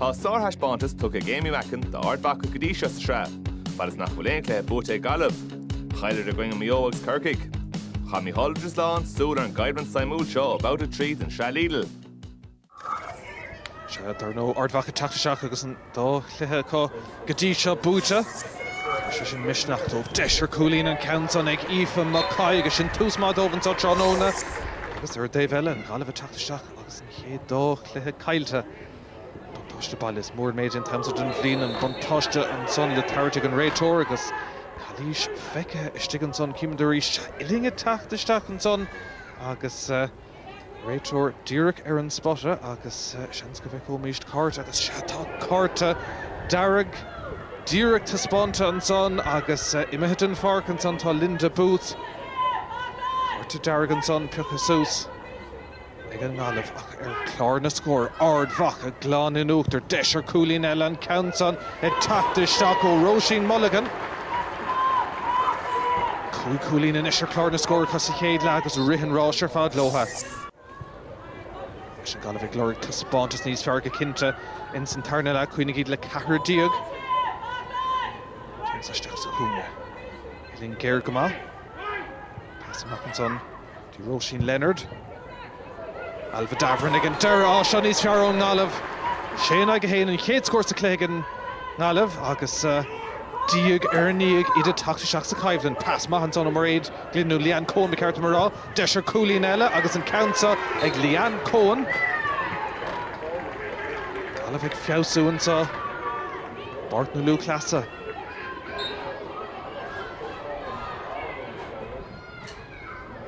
Tá sárthaispeántas tugtha ag Aimee Mackin d'Ard Mhacha go dtí seo sa tsraith, fad is nach bhfuil aon chluiche buaite ag Gaillimh. Chailleadar i gcoinne Mhaigh Eo agus Corcaigh. Chaith Micheál de Rislan súil ar an gcoimhlint suimiúil seo ó Bhabhta 3 den Sraith Lidl. Sea, dar ndóigh, Ard Mhacha teacht isteach agus an dá chluiche acu go dtí seo buaite. Tabharfaidh sé sin misneach dóibh. Deis ar cúilín an ceann san ag Aoife McCoy agus sin tús maith dóibh anseo tráthnóna. Agus ar an dtaobh eile, an Ghaillimh ag teacht isteach agus. chéad dá chluiche caillte. An buntáiste baile, is mór an méid é an t-am so den bhliain, an buntáiste ansan le tabhairt ag an réiteoir agus calaois feicthe istigh ansan. Chímid arís uillinn ag teacht isteach ansan agus an réiteoir díreach ar an spota agus seans go bhfeicfimíst cárta agus sea, tá cárta dearg díreach taispeánta ansan agus imithe den pháirc ansan tá Linda Booth. Cárta dearg ansan pioctha suas. ag an nGaillimh ach ar chlár na scór, Ard Mhacha glan in uachtar, deis ar chúilín eile, an ceann san ag teacht isteach ó Róisín Mulligan. Cúig chúilín anois ar chlár na scór acu sa chéad leath agus rith an rása ar fad leo. Anois an Gaillimh ag lorg taispeántas níos fearr go cinnte ins an tarna leath, Cuimhnigh go bhfuil siad le ceathrar déag, ceann san isteach sa chúinne, uillinn géar go maith, pas amach ansan. Bhí Róisín Leonard, Ailbhe Davoren ag an deireadh, á seo níos fearr ón nGaillimh. sé in aghaidh a haon an chéad scór sa chluiche ag an nGaillimh agus diaidh ar ndiaidh iad ag teacht isteach sa choimhlint. Pas maith ansan ó Mairéad Glynn, nó Leanne Coen ba cheart dom a rá. Deis ar chúilín eile agus an ceann seo ag Leanne Coen. Gaillimh ag feabhsú anseo i bPáirc na Lúthchleas.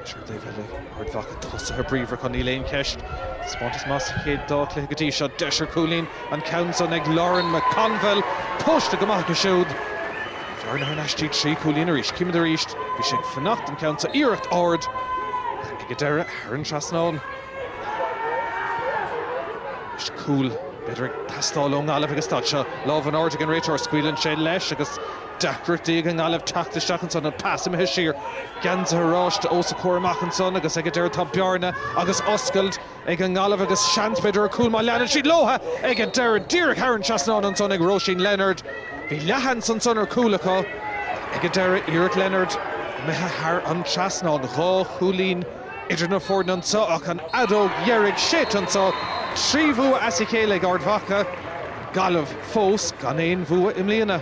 Anois ar an taobh eile, Ard Mhacha tosaithe bríomhar acu, níl aon cheist. Taispeántas maith sa chéad dá chluiche go dtí seo, deis ar chúilín, an ceann san ag Lauren McConville, tomhaiste go maith acu siúd. Bearna thar n-ais go dtí sé chúilín arís, címid arís, bhí sé ag fanacht an ceann san iarracht, Ard Mhacha ag an deireadh, thar an trasnán. Anois cúl, b'fhéidir ag teastáil ón nGaillimh ag an staid seo. Lámh in airde ag an réiteoir, scaoileann sé leis agus. Deacrachtaí ag an nGaillimh teacht isteach ansan, an pas imithe siar, geansaithe oráiste os a comhair amach ansan agus ag an deireadh tá bearna agus oscailt ag an nGaillimh agus seans b'fhéidir ar chúl má leanann siad leothu ag an deireadh. Díreach thar an trasnán ansan ag Róisín Leonard. Bhí leathsheans ansan ar chúl acu ach ag an deireadh, iarracht Leonard imithe thar an trasnán. Dhá chúilín idir na foirne anso ach an fheadóg dheiridh séidte anso. Trí bhua as a chéile ag Ard Mhacha. Gaillimh fós gan aon bhua i mbliana.